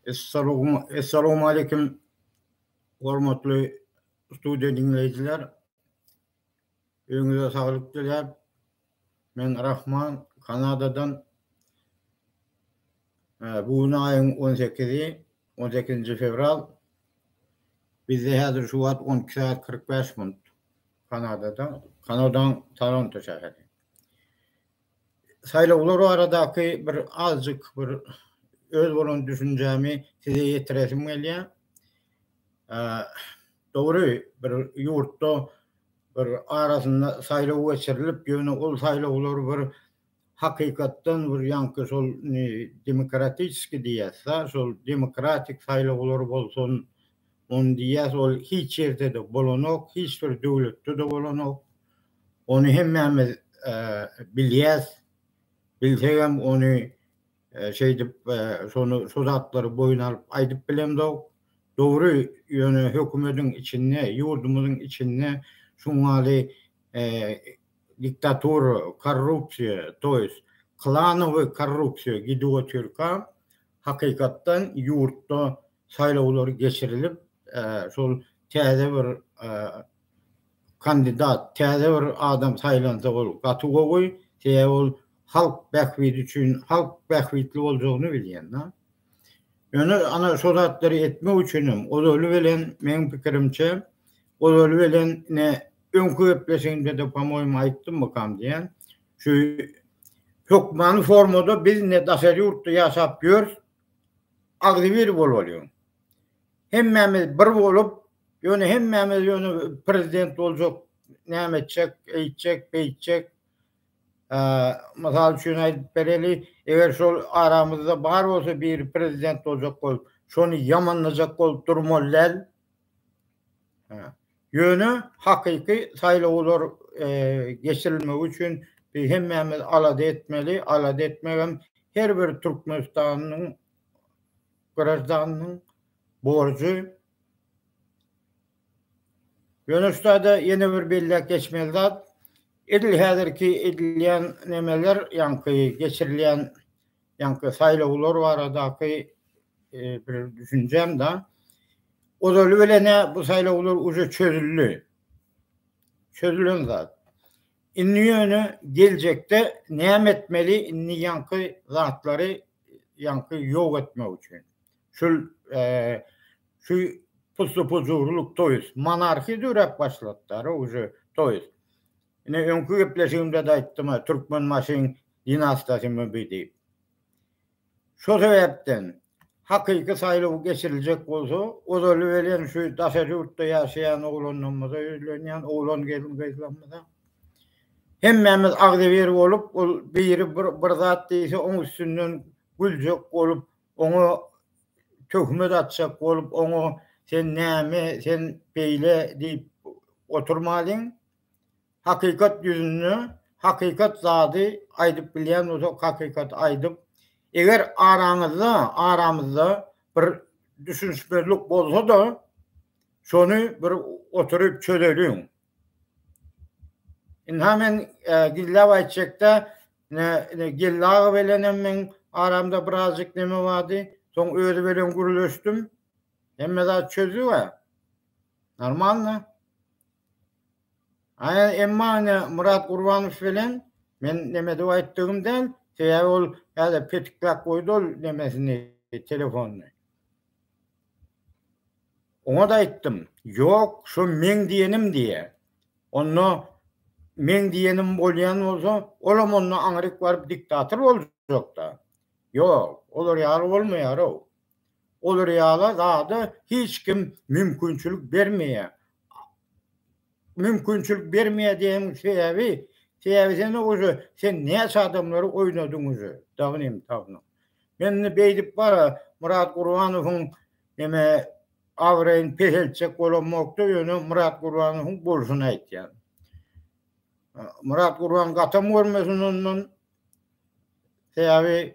Essalowmaleýkim hormatly studiýa diňleýjiler. Öňüňize saglyk diläp, men Rahman Kanadadan bu gün aýyň 18-i, 18-nji fewral. Bizde häzir şu wagt 12 sagat 45 minut Kanadada, Kanadaň Toronto şäheri. Saýlawlar baradaky bir azjyk bir öz bolan düşünjämi size ýetiresim gelýär. Dogry, bir ýurtda bir arasynda saýlaw geçirilip, ýöne ol saýlawlar bir hakykatdan bir ýaňky şol demokratiski diýýäs-dä, şol demokratik saýlawlar bolsun, ony diýýäs, ol hiç ýerde-de bolanok, hiç bir döwletde-de bolanok. Ony hemmämiz bilýäs. Bilsegem ony şeýdip şony şu zatlary boýun alyp aýdyp bilemzok. Dogry, ýöne hökümediň içinde, ýurdumyzyň içinde şuňňaly diktatura, korrupsiýa, toýs klanowy korrupsiýa gidip otyrka hakykatdan ýurtda saýlawlary geçirilip, şol täze bir kandidat, täze bir adam saýlansa ol gaty gowy, sebäbi ol halk bähbidi üçin, halk bähbitli boljagyny bilýän. Ýöne ana şol zatlary etmek üçin hem ozaly bilen, meň pikirimçe, ozaly bilen ine öňki gepleşigimde-de po-moýmy aýtdymmykam diýýän, şu hökmany formada biz indi daşary ýurtda ýaşap ýörüs, agzybir bolmalyň. Hemmämiz bir bolup, ýöne hemmämiz ýöne prezident boljak, näme etjek, eýtjek, beýtjek. Mysal üçin aýdyp bereli, eger şol aramyzda bar bolsa biri prezident boljak bolup, şony ýamanlajak bolup durmaly däl. Ýöne hakyky saýlawlar geçirilmegi üçin hemmämiz alada etmeli, alada etmegem her bir türkmenistanlynyň graždanynyň borjy. Ýöne şu taýda ýene bir belläp geçmeli zat, edil häzirki edilýän nemeler, ýaňky geçirilýän Ýaňky saýlawlar baradaky bir düşünjäm da. Ozaly bilen-ä bu saýlawlar uje çözüldi. Çözülen zat. Indi ýöne geljekde näme etmeli? Indi ýaňky zatlary ýaňky ýok etmek üçin. Şul şu pusly-pujurlyk, toýs monarhiýa döräp başlady da uje toýs. Ine, öňki gepleşigimde-de aýtdym-a, Türkmenbaşyň dinastiýasy mübi diýip. Şo sebäpden, hakyky saýlaw geçiriljek bolsa, ozaly welin şu daşary ýurtda ýaşaýan oglanlarymyza ýüzlenýän, oglan gelin-gyzlarymyza, Hemmämiz agzybir bolup, ol biri bir zat diýse, oň üstünden güljek bolup, oňa töhmet atjak bolup, oňa sen näme, sen beýle diýip oturmalyň. Hakykat ýüzünde hakykat zady aýdyp bilýän bolsak hakykaty aýdyp eger araňyzda aramyzda bir düşünişmezlik bolsada şony bir oturyp çözeliň. Ynha men gizläp aýtjakda Geldi aga bilenem meň aramda birazjyk neme bardy soň özi bilen gürleşdim hemme zat çözdüga normalno. Emma ine Myrat Gurbanow bilen men neme diýip aýtdygym däl, sebäbi ol häzir petikläp goýdy ol nemesini, telefonyny. Oňa-da aýtdym, ýok, şo meň diýenim diýýä. Onda meň diýenim bolýan bolsa, olam onda aňryk baryp diktator boljak-da. Ýok, olar ýaly bolmaýar-ow. Olar ýala zada hiç kim mümkinçilik bermeýär. Mümkinçilik bermeýär diýeniň sebäbi, sebäbi sen oje sen näçe adamlary oýnadyň oje, dagy nem tapyň. Men indi beýdip bar Myrat Gurbanowyň neme abraýyny peseltjek bolamokda, ýöne Myrat Gurbanowyň bolşuny aýtýan. Myrat Gurban gatam görmesin ondan. Sebäbi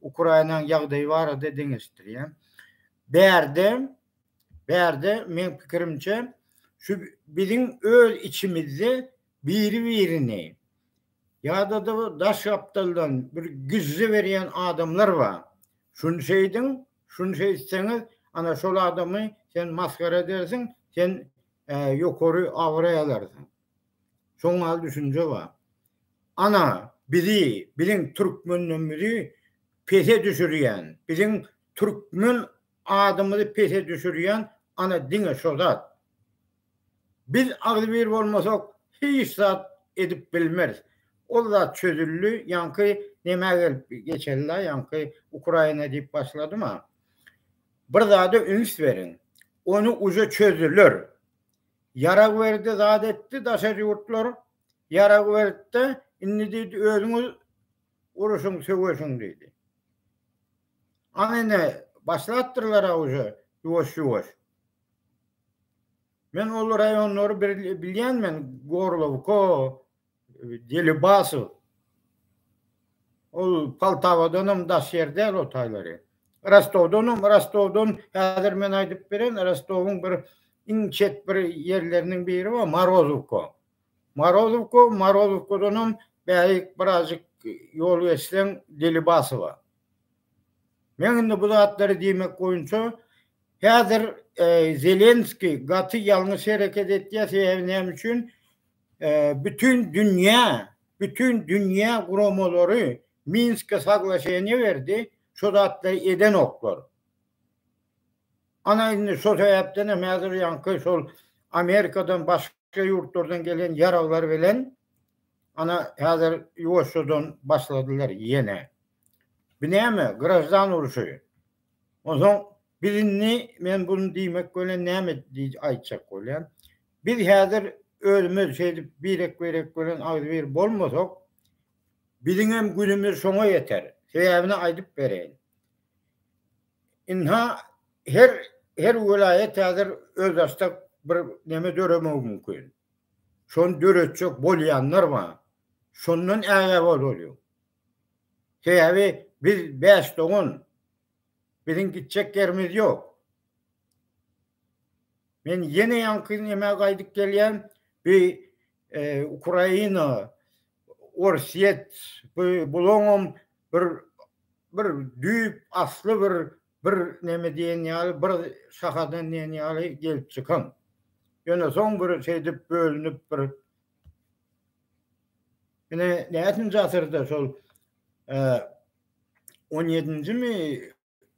Ukrainanyň ýagdaýy barada deňeşdirýän. Bärde, bärde meň pikirimçe şu biziň öz içimizde biri-birini ýa-da-da bir daş gapdaldan bir güjje berýän adamlar bar. Şuny şeýdiň, şuny şeýtseňiz, ana şol adamy sen masgara edersiň, sen ýokary abraý alarsyň. Şoň ýaly düşünje bar. Ana, bizi, biziň türkmenligimizi pese düşürýän, biziň türkmen adymyzy pese düşürýän ana diňe şo zat. Biz agzybir bolmasak, hiç zat edip bilmeris. Ol zat çözüldi, ýaňky nämä gelip geçeli-la, ýaňky Ukraina diýip başladyma. Bir zada üns beriň. Ony uje çözdüler. Ýarag berdi, zat etdi, daşary ýurtlar ýarag berdi-de, indi diýdi, özüňiz uruşyň, söweşiň diýdi. Aň indi başlapdyrlar-a uje ýuwaş-ýuwaş. Men ol raýonlary bilýän men, Gorlowka, Delibasow. Ol Poltawadan hem daş ýer däl o taýlary. Rostowdan hem, Rostowdan häzir men aýdyp beren, Rostowyň bir iň çet bir ýerleriniň biri bar, Morozowka. Morozowka, Morozowkadan hem bärik birazjyk ýol geçseň Delibasowa. Men indi bu zatlary diýmek boýunça häzir Zelenskiý gaty ýalňyş hereket etýär, sebäbi näme üçin? bütin dünýä, bütin dünýä guramalary Minske saglaşeniýe berdi, şo zatlary edenoklar. Ana indi şo sebäpdenem häzir ýaňky şol Amerikadan başga ýurtlardan gelen ýaraglar bilen ana häzir ýuwaşjadan başladylar ýene. Bu näme, graždan urşy? Onsoň biz indi men bunu diýmek bilen näme aýtjak bolýan? Biz häzir özümiz şeýdip birek-birek bilen agzybir bolmasak, biziňem günümiz şoňa ýeter. Sebäbini aýdyp bereýin. Ynha, her her welaýat häzir özbaşdak bir neme döremegi mümkin. Şony döretjek bolýanlar bar. Şondan ägä bozulýar. Sebäbi biz bäş dogan. Biziň gitjek ýerimiz ýok. Men ýene ýaňky nämä gaýdyp gelýän, bi Ukraina, Orsýet, bi bulaňam bir bir düýp asly bir bir neme diýen ýaly bir şahadan diýen ýaly gelip çykan. Ýöne soň bir şeýdip bölünip bir Ine, näçinji asyrda şol 17-njimi,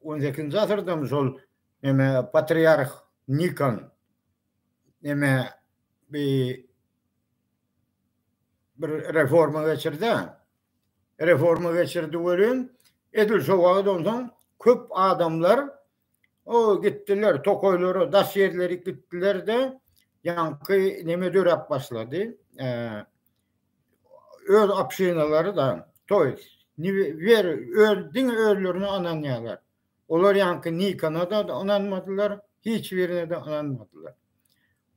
18-nji asyrdamy şol neme patriarh Nikon neme bir bir reforma geçirdi. Reforma geçirdi welin edil şo wagt ondan köp adamlar O gitdiler tokaýlara, daş ýerleri gitdiler-de, ýaňky neme döräp başlady. Öz obşinalary da, to ýest, wer öz diňe özlerine ynanýarlar. Olar ýaňky nikana da ynanmadylar, hiç birine de ynanmadylar.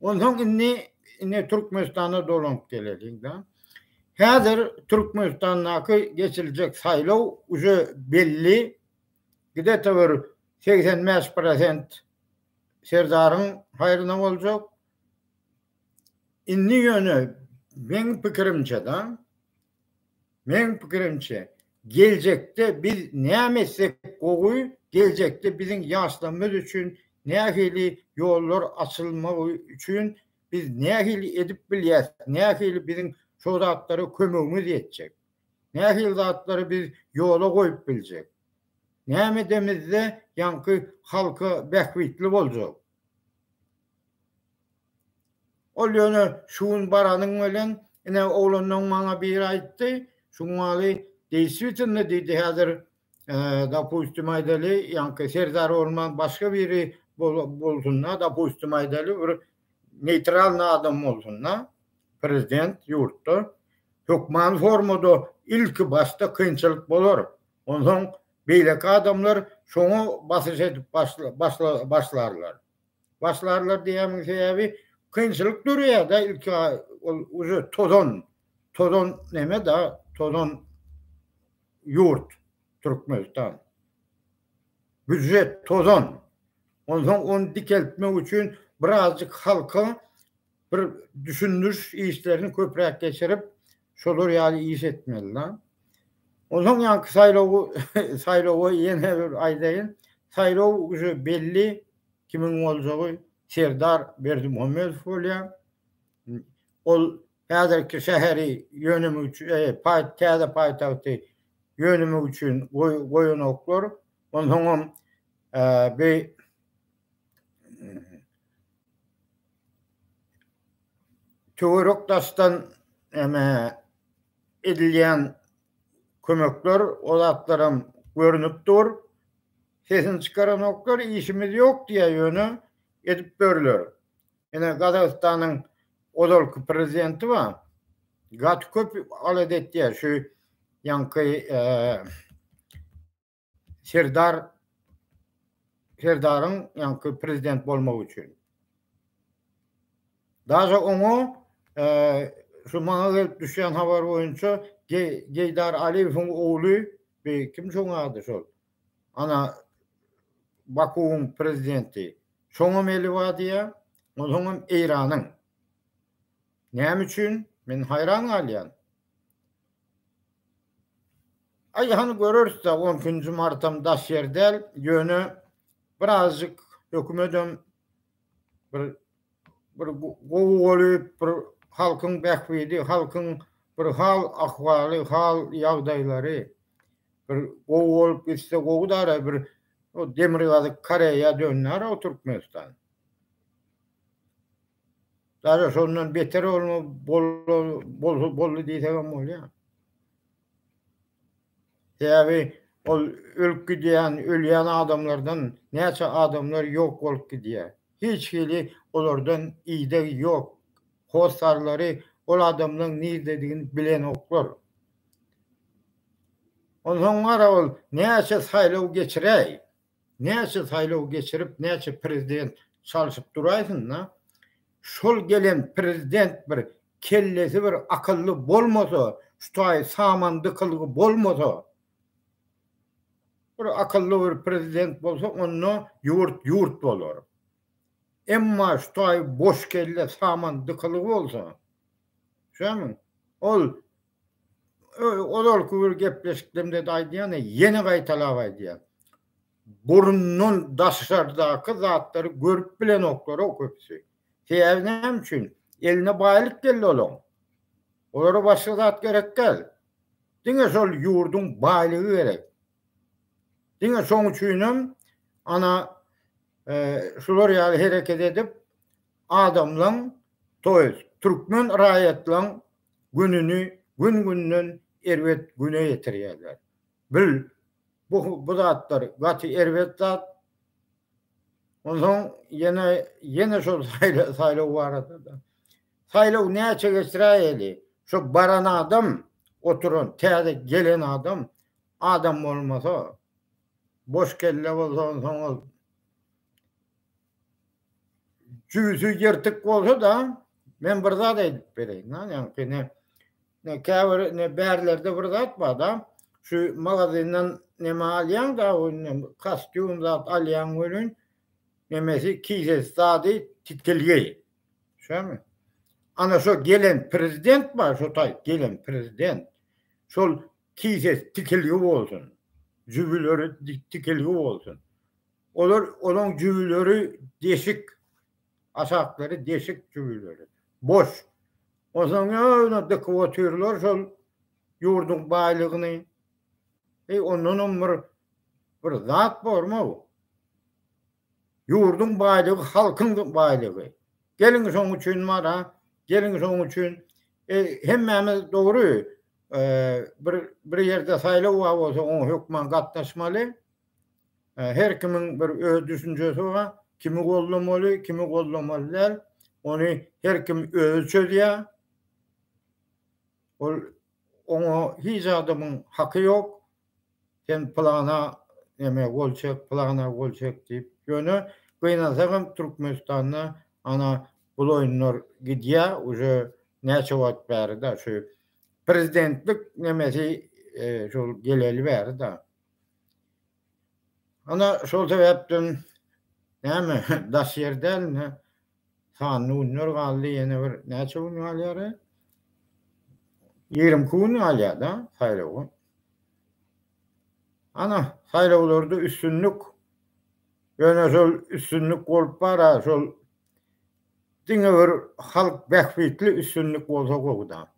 Onsoň indi ine Türkmenistana dolanyp geleliň da. Häzir Türkmenistandaky geçiriljek saýlaw uje belli, Gidete bir segsen bäş prosent Serdaryň haýryna boljak. Indi ýöne meň pikirimçe-da, meň pikirimçe, geljekde biz näme etsek gowy, geljekde biziň ýaşlarymyz üçin nähili ýollar açylmagy üçin biz nähili edip bilýäs, nähili biziň şo zatlara kömegimiz ýetjek. Nähili zatlary biz ýola goýup biljek? Näme edemizde ýaňky halka bähbitli boljak? Ol ýöne şu gün baranyň bilen, ine, oglanlaň maňa biri aýtdy, Şumaly, deýswitnda diýdi, häzir Dopustim aýdaly, ýaňky serdar bolman başga biri bolsunda, dopustim aýdaly, bir neýtralny adam bolsunda, prezident ýurtda, hökmany formada ilki başda kynçylyk bolar, onsoň beýleki adamlar şoňa basyş edip başlarlar. Başlarlar diýýämiň sebäbi kynçylyk döreýärde ilki ol uze tozan tozan neme da tozan ýurt Türkmenistan. Büjet tozan. Onsoň ony dikeltmek üçin birazjyk halka Bir düşündiriş işlerini köpräk geçirip, şolar ýaly iş etmeli da. Onsoň ýaňky saýlawy saýlawa ýene bir aýdaýyn. Saýlaw uje belli kimiň boljagy Serdar Berdimuhamedow bolýar. Ol häzirki şäheri ýönemek üçin, e, paý täze paýtagty ýönemek üçin goýanoklar. Onsoňam e, be töwerek daşdan näme edilýän kömekler o zatlaram görnüp dur. Sesini çykaranoklar, işimiz ýok diýýär, ýöne edip börler. Ine Gazagystanyň ozalky prezidenti bar. Gaty köp alet etýär şu ýaňky Serdar Serdaryň ýaňky prezident bolmagy üçin. Daže oňa e, şu maňa gelip düşýän habar boýunça Geýdar Aliýewiň ogly bir kim şoň ady şol. Ana Bakuwyň prezidenti. Şoňa meli bar diýýär. Onuň hem Eýranyň. Näme üçin? Men haýran galýan. Aý hany göreris-dä on ikinji martam daş ýer däl, ýöne birazjyk hökümedem bir bir gowy bolup bir halkyň bähbidi, halkyň bir hal ahwaly, hal ýagdaýlary bir gowy bolup gitse gowy dara bir demirgazyk Koreýa döndär-ow Türkmenistan. Gara şondan beter olma bolsa boldy diýsegem bolýar. Sebäbi ol ölüp gidýän, ölýän adamlardan näçe adamlar ýok bolup gidýär. Hiç hili olardan ideg ýok. Hossarlary ol adamlaryň nirdedigini bilenoklar. Onsoň gara ol näçe saýlaw geçiräý, Näçe saýlaw geçirip näçe prezident çalşyp duraýsynda şol gelen prezident bir kellesi bir akylly bolmasa şu taýy saman dykylgy bolmasa bir akylly bir prezident bolsa onda ýurt ýurt bolar. Emma şu taýy boş kelle saman dykylgy bolsa şämi ol ozalky bir gepleşikdemde-de aýdýan, ýene gaýtalap aýdýan. Burundan daşardaky zatlary görüp bilenoklar-ow köpüsi. Sebäbi näme üçin? Eline baýlyk geldi olaň. Olara başga zat gerek däl. Diňe şol ýurduň baýlygy gerek. Diňe şoň üçinem ana şular ýaly hereket edip adamlaň, toýest türkmen raýatlaň gününi gün-günden erbet güne ýetirýärler. Bil, bu bu zatlar gaty erbet zat. Onsoň ýene ýene şol saýlaw barada-da. Saýlaw näçe geçiräýeli, şo baran adam, oturan, täze gelen adam, adam bolmasa, boş kelle bolsa onsoň ol Jüýsi ýyrtyk bolsa-da, men bir zat aýdyp bereýin, ýaňky ne, ne käbir ne bärlerde bir zat bar-da, şu magazyndan neme alýaň-da, kostýum zat alýaň welin, nemesi kisesi zady titilgi. Şämi? Ana şo gelen prezident bar, şo taý gelen prezident. Şol kisesi tikilgi bolsun. Jübüleri tikilgi bolsun. Olar olaň jübüleri deşik. Aşaklary deşik jübüleri. Boş. Onsoň öýüne dykyp otyrlar şol ýurduň baýlygyny. Eý, ondanam bir bir zat bormy bu? Ýurduň baýlygy halkyň baýlygy. Geliň şoň üçin mara, geliň şoň üçin e, hemmämiz dogry e, bir bir ýerde saýlaw bar bolsa oňa hökman gatnaşmaly. Her kimiň bir öz düşünjesi bar. Kimi goldamaly, kimi goldamaly däl. Ony her kim özi çözýär. Ol oňa hiç adamyň haky ýok. Sen pylana neme gol çek, pylana gol çek diýip. Ýöne gynansak hem Türkmenistanda ana bul oýunlar gidýär. Uje näçe wagt bäri-de şu prezidentlik nemesi şol geleli bäri-de. Ana şol sebäpden näme daş ýer däl indi sanly günler galdy ýene bir näçe gün galýar ýigrimi iki gün galýada saýlawa ana saýlawlarda üstünlik ýöne şol üstünlik bolup bara şol diňe bir halk bähbitli üstünlik bolsa gowuda.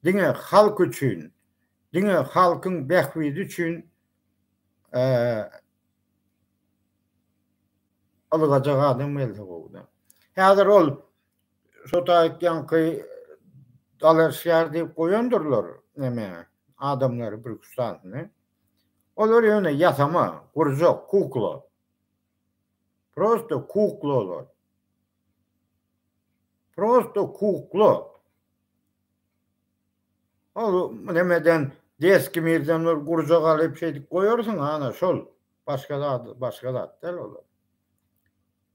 Diňe halk üçin, diňe halkyň bähbidi üçin ylgajak adam gelse gowy-da. Häzir ol şo taýtýanky dalaşgär diýip goýandyrlar neme adamlary bir-iki üç sanysyny. Olar ýöne ýasama, gurjak, kukla. Prosto kukla olar. Prosto kukla. Ol nemeden deski mirden bir gurja galyp şeýdip goýarsyň ana şol. Başga zat, başga zat däl olar.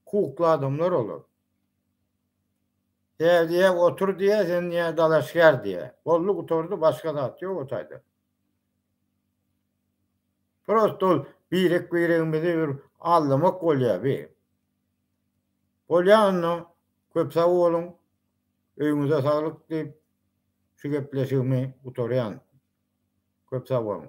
Kukla adamlar olar. Täze otur diýä, sen ýa dalaşgär diýä. Boldy gutardy başga zat ýok o taýdan. Prosta ol birek-biregimizi bir aldamak bolýar bi. Bolýar onda köp sag boluň. Öýüňize saglyk diýip şu gepleşigimi gutarýan. Köp sag boluň.